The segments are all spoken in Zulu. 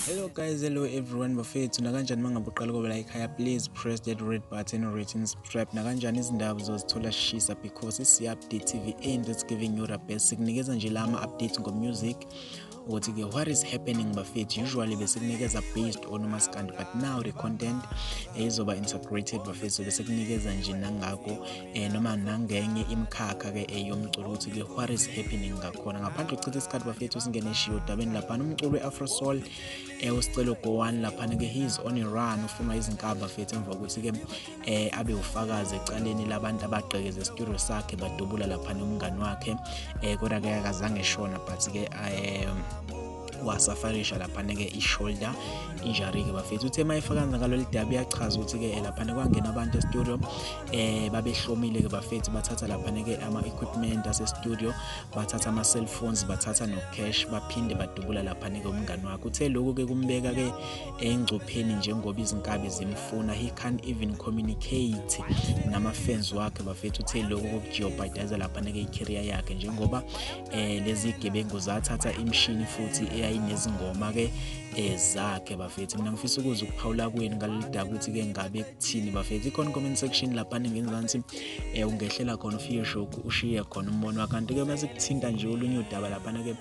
Hello guys, hello everyone bafethu nakanjani mangabe uqala kobe la ekhaya please press that red button written subscribe nakanjani izindaba uzozithola shisa because isi update TV and that's giving you the best sikunikeza nje lama update ngo music ukuthi ke what is happening bafethu usually besikunikeza based on umaskandi but now the content ezoba eh, integrated bafethu besikunikeza nje nangako eh, noma nangenye imikhakha ke eyomculo eh, ukuthi ke what is happening ngakhona ngaphandle kuchitha isikhathi bafethu singene shiyo dabeni laphana umculo we-afro soul eh, usicelo go one laphana ke he is on a run ufunwa izinkaba bafethu emva kokuthi ke eh abe ufakazi ecaleni labantu abagqekeza studio sakhe badubula lapha nomngani wakhe eh kodwa ke akazange shona but ke eh wasafarisha laphana ke i-shoulder injury ke bafethu uthe mayefakaza ngalolu dabi yachaza ukuthi ke laphana kwangena abantu e-studio eh babehlomile ke bafethu bathatha laphana ke ama equipment ase studio bathatha ama cell phones bathatha no cash baphinde badubula laphana ke umngani wakhe uthe lokho ke kumbeka ke engcupheni njengoba izinkabi zimfuna he can't even communicate namafans wakhe bafethu uthe lokho kokujeopardize lapha nekeyikheria yakhe njengoba eh lezi gebengu zathatha imshini futhi eyayinezingoma ke eh, zakhe bafethu mina ngifisa ukuza ukuphawula kweni ngalelida ukuthi ke ngabe kuthini bafethu ikhona comment section lapha ngenzansi eh ungehlela khona ufike shoku ushiye khona umbono kanti ke bese kuthinta nje olunye udaba lapha ke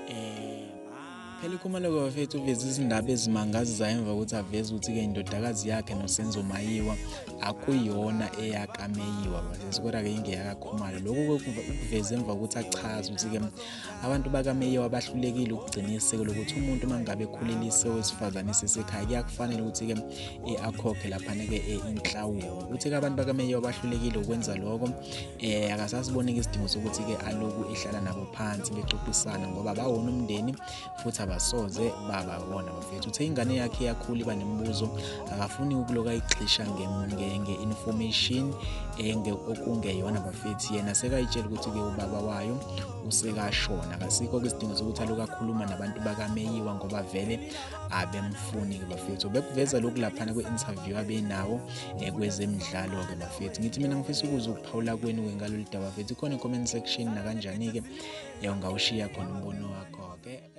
eh Phela uKhumalo-ke bafethu uveze izindaba ezimangazizayo emva kokuthi aveze ukuthi-ke indodakazi yakhe noSenzo Mayiwa akuyona eyakaMeyiwa bafethu kodwa-ke ingeyakaKhumalo. Lokhu ukuveze emva kokuthi achaze ukuthi-ke abantu bakaMeyiwa bahlulekile ukugcina isiko lokuthi umuntu uma ngabe ekhulelise owesifazane esesekhaya kuyakufanele ukuthi-ke eh, akhokhe laphana-ke eh, inhlawulo. Uthe-ke abantu bakaMeyiwa bahlulekile ukwenza lokho eh akasasiboneki isidingo sokuthi ke aloku ehlala nabo phansi bexoxisana ngoba bawona umndeni futhi abasoze baba bona bafethu uthe ingane yakhe yakhula iba nemibuzo akafuni ukuloka igxisha ngenge information enge okungeyona bafethu yena sekayitshela ukuthi ke ubaba wayo usekashona kasikho ke isidingo sokuthi aloku akhuluma nabantu bakameyiwa ngoba vele abemfuni ke bafethu bekuveza lokhu laphana kwi-interview abenawo eh, kwezemidlalo-ke bafethu ngithi mina ngifisa ukuza ukuphawula kwenu-ke ngalolu daba bafethu ikhona i-comment section nakanjani-ke eh, ungawushiya khona umbono wakho-ke